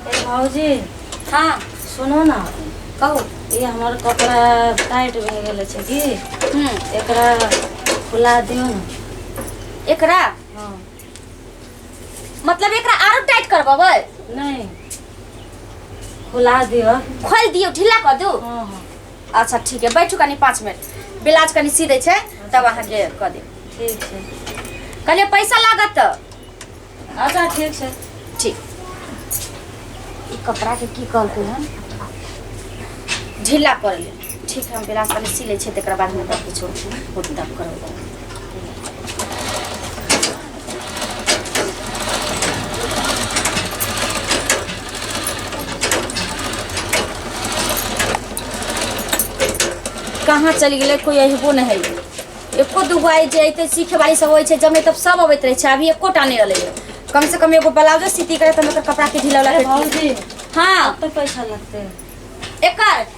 ए भाऊजी हाँ सुनो ना कहू ये हमार कपड़ा टाइट भए गेल छै की हम्म, एकरा खुला दियौ ने एकरा हाँ मतलब एकरा आरो टाइट करबबै नहीं खुला दियो खोल दियो ढीला कर दू हाँ हाँ अच्छा ठीक है बैठू कनी पाँच मिनट ब्लाउज कनी सी दै छै तब अहाँके कऽ देब ठीक है कहलिए पैसा लागत तऽ अच्छा ठीक है ठीक ई कपड़ा के की कहलकै हन ढीला कर ले ठीक है हम बिलास पहले सी ले छियै तकर बाद हम तब किछो कुट तब करबै कहाँ चलि गेलै कोइ अयबो नहि है एको दूगो आइ जे अयतै सीखे वाली सब होइ छै जब नहि तब सब अबैत रहै छै अभी एकोटा नहि अलै कम से कम एगो ब्लाउजो सीती करे तऽ हम एकर कपड़ा के ढीला वाला अरे करती। भौजी हाँ अब तो पैसा लगते एकर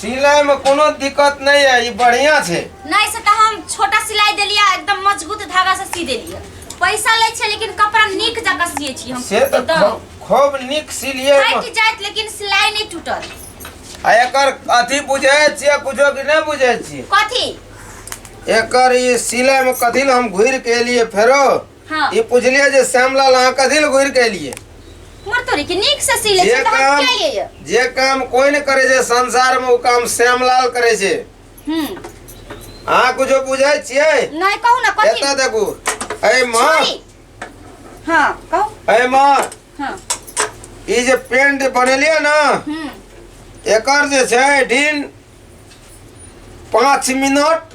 सिलाई में कोनो दिक्कत नहीं है ये बढ़िया छे नहीं से तऽ हम छोटा सिलाई देलिया एकदम मजबूत धागा से सी देलिया पैसा लै छै लेकिन कपड़ा नीक जकाँ सिए छी हम से तो एकदम खूब- खूब निक सिलिए फाटि जाइत लेकिन सिलाई नहि टूटत आ एकर अथी बुझे छिए कुछो कि नहीं बुझे छिए कथी एकर ये सिलाई में कथी ले हम घूर के लिए फेरो हाँ ई पुछलिए जे श्यामलाल अहाँ कथी ले घुर के एलिए मर तोरी के नीक से सी ले जे छै तऽ हम काम किया ये ये जे काम कोई ने करे छै संसार में वो काम श्यामलाल करे छै हम्म अहाँ कुछो बुझे छियै नहीं कहू ना कथी एतऽ देखू अय माँ छोड़ी। हाँ कहू अय माँ हाँ ई जे पेंट बनेलिए ना हम्म एकर जे छै दिन पाँच मिनट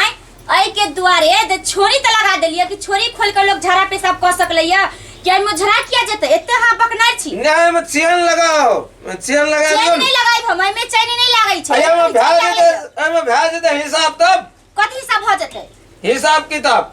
आय अई के द्वारे जे छोरी त लगा देलिए कि छोरी खोल के लोग झाड़ा पेशाब क सकलैया कि एमे झड़ा किया जेते एते हां बकनार छी नहीं में चैन लगाओ चैन लगा चैन दियो नहीं लगाई हम एमे चैन नहीं लागई छै अरे में भेज दे में भेज दे हिसाब तब कथी सब हो जेते हिसाब किताब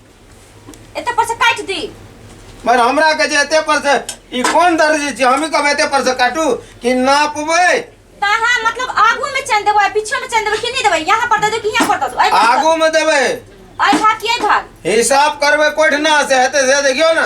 एते पर से काट दी पर हमरा के जे एते पर से ई कोन दर्जी छी हम कब एते पर से काटू कि नापबै कहाँ मतलब आगू में चैन देबो आ पीछे में चैन देबो कि नहीं देबो यहाँ पर दे दो कि यहाँ पर दे दो आई आगू में देबै आई भाग कि आई भाग हिसाब करबै कोठना से हेतै से देखियौ ने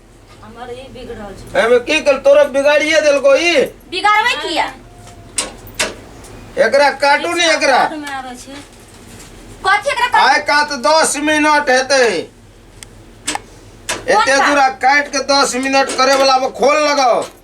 हमर ई बिगड़ल छै एमे की कल तोरा बिगाड़िए देलको ई बिगाड़बै किया एकरा काटू ने एकरा घर में आबै छै कथी एकरा कर- आय का तो दस मिनट हेते एते दूरा काट के दस मिनट करे वाला में खोल लगाओ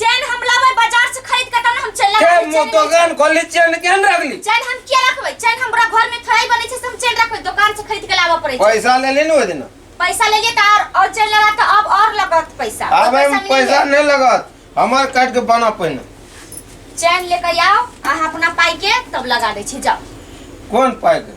चैन हम लाबै बाजार से खरीद के तब ने हम चैन के लगाबै मु चैन दोकान खोलि चेन केन रखली चैन हम किया रखबै चैन हमरा घर में थोड़े बनै छै से हम चैन रखबै दोकान से खरीद के लाबऽ पड़ै छै पैसा लेली न ओहि दिन पैसा ले लिए तऽ और और चैन लगा तऽ अब और लगत पैसा और आबे मे मिलैए। पैसा नहि लगत हमर काटि के बना पहिने चैन लेकर आओ अहाँ अपना पाई के तब लगा दै छी जाओ कोन पाइ के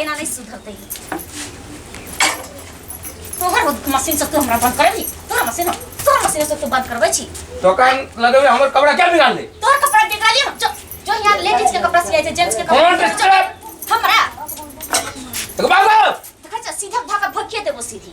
एना नहीं सुधरते तोहर हो- मशीन से तू हमरा बंद करे ली तोहर मशीन हो- तोहर मशीन से तू बंद करबे छी तो कान लगे हुए हमर कपड़ा क्या बिगाड़ दे तोहर कपड़ा गिरा लियो जो जो यहाँ लेडीज के कपड़ा सिया छै जेंट्स के कौन कपड़ा ड्रेस सिया छै। हमरा तो बाबा देखै छ सीधा भाका भकिए देबो सीधी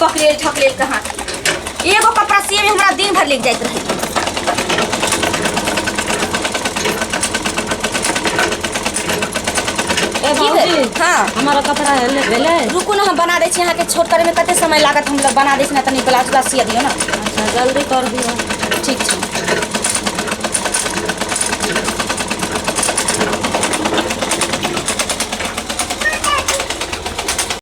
बकरेल ठकरेल कहाँ के। एगो कपड़ा सिए में हमरा दिन भर लेके जाइत रहे ए की भेल? भौजी हाँ हमारा कपड़ा है ले भेले रुकू ना हम बना दै छी अहाँके छोट करे में कते समय लागत हम लोग बना दै छी ना तनी ब्लाउज उलाउज सिया दियो ना अच्छा जल्दी कर दियो ठीक छै